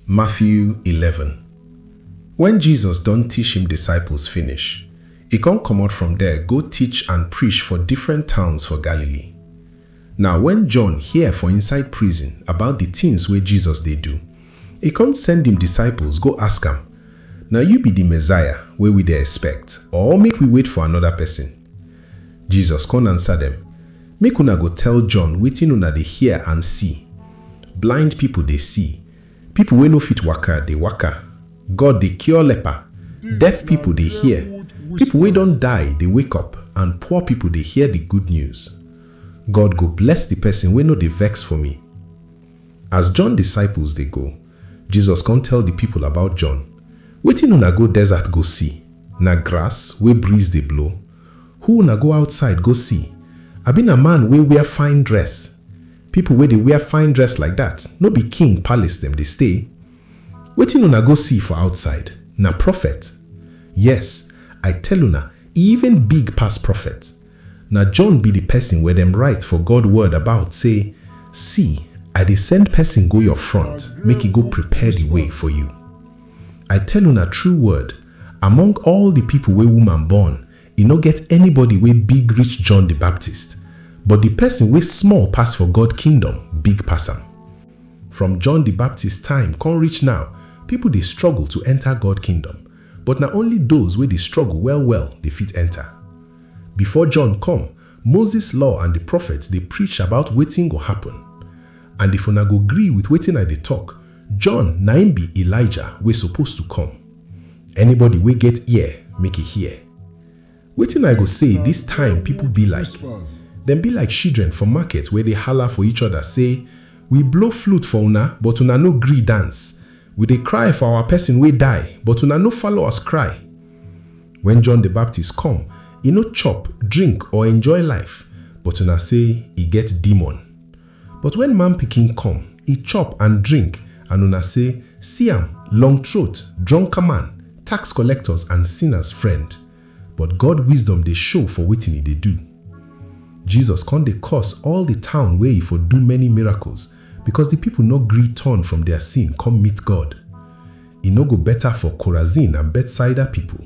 Matthew eleven Wen Jesus don tish im disciples finish, e kon komot from der go tich and prish for different towns for Galilee. Naw wen John hear for inside prison about di tins wey Jesus dey do, e kon send im disciples go ask am, Na yu bi di Messiah wey wi dey expect, or make wi wait for anoda pesin? Jesus kon ansa dem, Make una go tell John wetin una dey hear and see, Blind pipol dey see, pipol wey no fit waka dey waka, God dey cure leper, deaf pipol dey hear, pipol wey don die dey wake up and poor pipol dey hear di good news. God go bless di pesin wey no dey vex for mi. As John disciples dey go, Jesus come tell di pipol about John, Wetin una go desert go see? Na grass wey breeze dey blow? Who una go outside go see? Abi na man wey wear fine dress? Pipol wey dey wear fine dress like dat, no be king palace dem dey stay? Wetin una go see for outside? Na profet? Yes, I tell una, e even big pass profet. Na John bi di pesin wey dem rite for God word about sey, Si, I dey send pesin go yor front make e go prepare di way for yu. I tell una true word, among all di pipol wey wuman born, e nor get anybody wey big reach John di Baptist, but di pesin wey small pass for God kingdom big pass am. From John di Baptist time kon reach naw, pipol dey struggle to enter God kingdom, but na only doz wey dey struggle well-well dey fit enter. Before John come, Moses law and di prophets dey preach about wetin go happen. And if una go gree with wetin I dey talk, John na im be Elijah wey suppose to come. Anybody wey get ear, make e hear. Wetin I go say dis time people be like, dem be like shidren for market wey dey hala for each other say, We blow flute for una, but una no gree dance, we dey cry for our person wey die, but una no follow us cry. Wen John di Baptist kom, e no chop, drink or enjoy life, but una sey e get demon. But wen Man Pikin kom, e chop and drink and una sey, See am, long throat, drunker man, tax collectors and sinners friend. But God wisdom dey show for wetin e dey do. Jesus kon dey curse all di town wey e for do many miracles, bikos di pipol nor gree turn from dia sin kom meet God. E no go beta for Korazin and Betsaida pipol,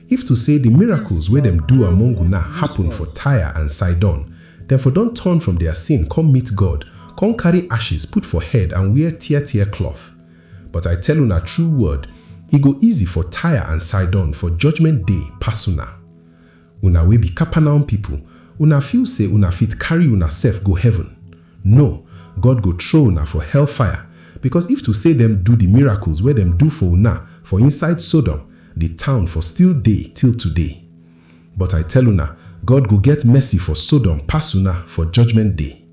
if to sey di miracles wey dem do among una hapun for Tyre and Sidon, dem for don turn from dia sin kon meet God, kon karry ashes put for head and wear tear-tear klot. But I tell una true word, e go easy for Tyre and Sidon for judgment day pass una. Una wey bi Capernaum pipol, una feel sey una fit karry una sef go heaven? No! God go throw una for hellfire, bikos if to sey dem do di miracles wey dem do for una for inside Sodom, di town for still dey till today. But I tell una, God go get mercy for Sodom pass una for Judgement Day.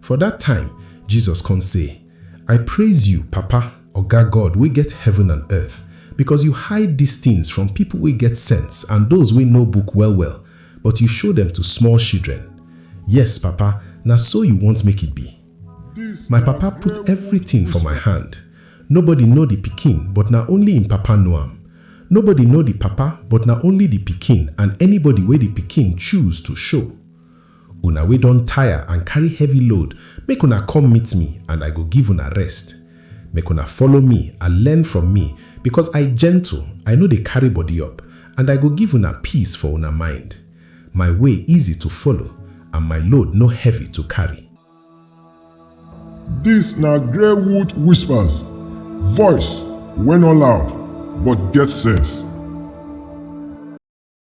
For dat time, Jesus kon sey. I praise you, Papa, Oga God wey get heaven and earth, because you hide these things from people wey get sense and those wey know book well well, but you show them to small shidren. Yes, Papa, na so you want make it be. My Papa put everything for my hand. Nobody know the pikin but na only im Papa know am. Nobody know the Papa but na only the pikin and anybody wey the pikin choose to show. Una wey don tire and carry heavy load, make una come meet me and I go give una rest. Make una follow me and learn from me because I gentle, I no dey carry body up and I go give una peace for una mind. My way easy to follow and my load no heavy to carry. Dis na Greywood Whispers, voice wey no loud but get sense.